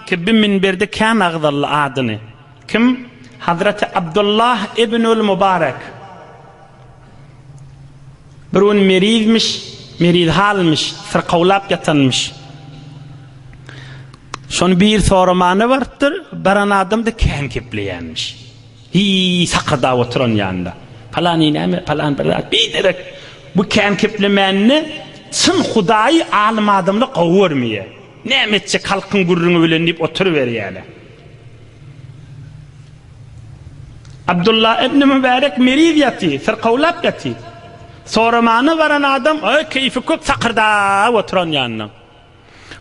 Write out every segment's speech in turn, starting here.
Tibbi minberde kän agzaldy adyny. Kim? Hazraty Abdullah ibnül Mubarek. Bir gün merizmiş, meriz halmyş, syrkawlap ýatanmyş. Şony bir soramana barypdyr, baran adam-da kän gepleýänmiş. Hiý, sakyrdap oturan ýanynda. Palany näme, palan bir zat, biderek bu kän geplemänini çyn Hudaýy alym adamlar gowy görmeýär. Näme etjek halkyň gürrüňi bilen diýip oturyberýäler. Abdullah ibn Mübärek meriz ýaty, syrkawlap ýaty. Soramana baran adam keýfi köp sakyrdap oturan ýanyna.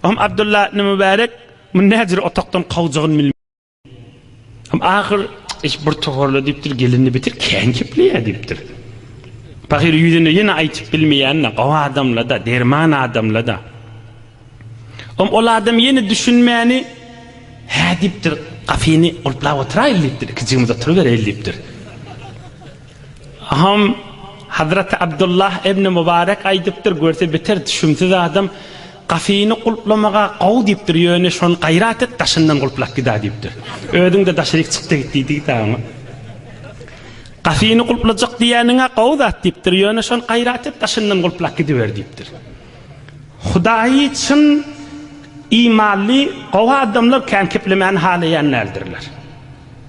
Oňa Abdullah ibn Mübärek muny näjür otaqdan kowjagyn bilmän. Hem ahyr iş bir toparla diýipdir, gelindi bitir kän kepleýär diýipdir. Pahyr ýüzüne ýene aýtyp bilmeýänine, gowy adamla-da, derman adamla-da. Hem ol adam ýene düşünmäni, Hä diýipdir, gapyny gulplap oturaýyl diýipdir, ikijigimiz oturybereýil diýipdir. Aham, Hazraty Abdullah ibni Mubarek aýdypdyr, Görse beter düşümsiz adam gafyny gulplamaga gowy diýipdir, ýöne şony gaýrat et, daşyndan gulplap gid-ä diýipdir. Özüň-de daşyryk çyk-da git diýdi-de oňa. Gafyny gulplajak diýeniň-ä gowy zat diýipdir, ýöne şony gaýrat et, daşyndan gulplap gidiber diýipdir. Hudaýy çyn imanly, gowy adamlar kän keplemäni halaýan däldirler.